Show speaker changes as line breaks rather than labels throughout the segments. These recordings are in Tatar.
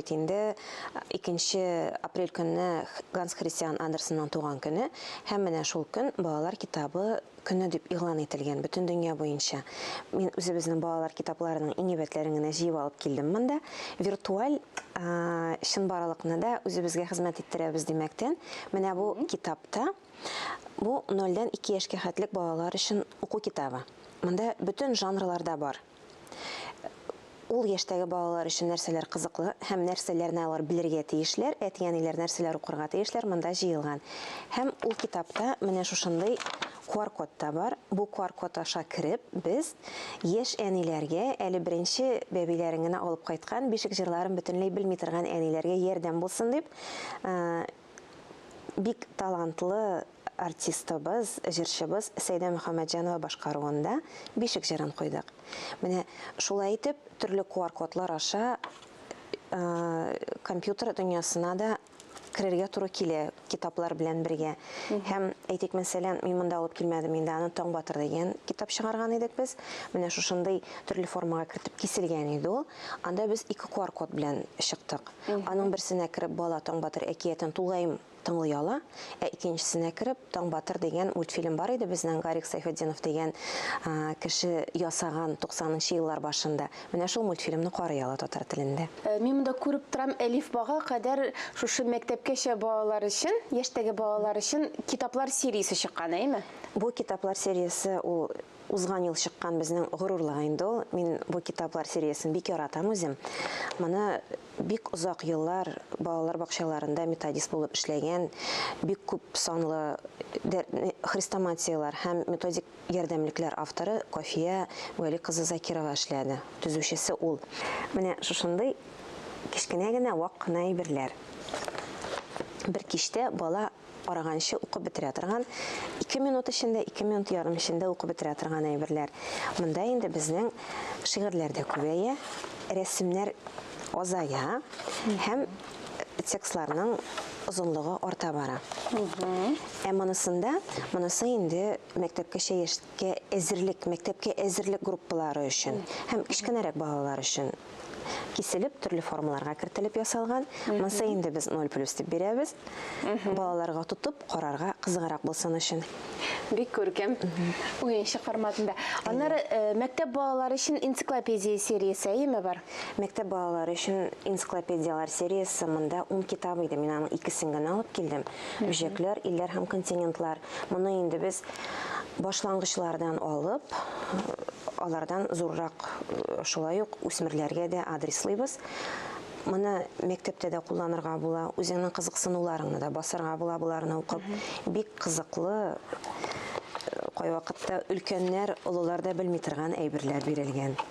Бит инде икенче апрель көнне Ганс Христиан Андерсенның туган көне һәм менә шул көн балалар китабы көне дип игълан ителгән бөтен дөнья буенча. Мин үзебезнең балалар китапларының иң әйбәтләрен генә җыеп алып килдем монда. Виртуаль чынбарлыкны да үзебезгә хезмәт иттерәбез димәктән, менә бу китапта бу нольдән ике яшькә хәтлек балалар өчен уку китабы. Монда бөтен жанрларда бар. Ул яшьтәге балалар өчен нәрсәләр кызыклы һәм нәрсәләрне алар белергә тиешләр, әти-әниләр нәрсәләр укырга тиешләр, монда җыелган. Һәм ул китапта менә шушындый QR-код та бар. Бу QR-код аша кереп, без яшь әниләргә, әле беренче бәбиләрен генә алып кайткан, бишек җырларын бөтенләй белми торган әниләргә ярдәм булсын дип, бик талантлы, артистыбыз, җырчыбыз Сәйдә Мөхәммәтҗанова башкаруында Бишек җырын куйдык. Менә шулай итеп, төрле QR-кодлар аша компьютер дөньясына да керергә туры килә китаплар белән бергә. Һәм әйтик, мәсәлән, мин монда алып килмәдем инде, аны Таң батыр дигән китап чыгарган идек без. Менә шушындый төрле формага кертеп киселгән иде ул. Анда без ике QR-код белән чыктык. Аның берсенә кереп бала Таң батыр әкиятен тулаем Тыңлый ала, ә икенчесенә кереп, Таң батыр дигән мультфильм бар иде безнең Гарик Сайфетдинов дигән кеше ясаган 90 нчы еллар башында. Менә шул мультфильмны карый ала татар телендә. Мин монда күреп
торам, Әлифбага кадәр шушы мәктәпкәчә балалар өчен, яшьтәге балалар өчен китаплар сериясе чыккан, әйеме? Бу китаплар
сериясе ул Узган ел чыккан безнең горурлык инде ул. Мин бу китаплар сериясен бик яратам үзем. Моны бик озак еллар балалар бакчаларында методист булып эшләгән, бик күп санлы хрестоматияләр һәм методик ярдәмлекләр авторы Кафия Вәли кызы Закирова эшләде. Төзүчесе ул. Менә шушындый кечкенә генә вак кына әйберләр бер кичтә бала караганчы укып бетерә торган, ике минут эчендә, ике минут ярым эчендә укып бетерә торган әйберләр. Монда инде безнең шигырьләр дә күбәя, рәсемнәр азая һәм текстларның озынлыгы арта бара. Ә монысында, монысы инде мәктәпкәчә яшь Кә әзерлек, мәктәпкә әзерлек группалары өчен һәм кечкенәрәк балалар өчен киселеп, төрле формаларга кертелеп ясалган. Монсы инде без 0 плюс дип бирәбез. Балаларга тотып, карарга кызыграк булсын өчен. Бик күркәм.
Уенчык форматында. Аннары мәктәп балалары өчен энциклопедия сериясе, әйеме бар? Мәктәп балалары
өчен энциклопедияләр сериясе монда ун китап иде. Мин аның икесен генә алып килдем. Бөҗәкләр, илләр һәм континентлар. Моны инде без башлангычлардан алып, алардан зуррак э, шулай ук үсмерләргә дә адреслыйбыз. Моны мәктәптә дә кулланырга була, үзеңнең кызыксынуларыңны да басарга була боларны укып. Бик кызыклы э, кайвакытта өлкәннәр, олылар да белми торган әйберләр бирелгән.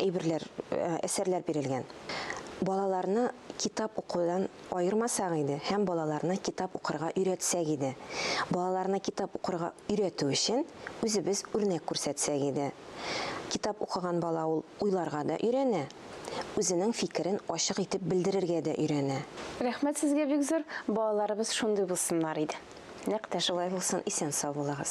әйберләр, әсәрләр бирелгән. Балаларны китап укудан аермасак иде һәм балаларны китап укырга өйрәтсәк иде. Балаларны китап укырга өйрәтү өчен үзебез үрнәк күрсәтсәк иде. Китап укыган бала ул уйларга да өйрәнә, үзенең фикерен ачык итеп белдерергә дә өйрәнә. Рәхмәт сезгә
бик зур, балаларыбыз шундый
булсыннар
иде.
Нәкъ тә
шулай
булсын,
исән-сау булыгыз.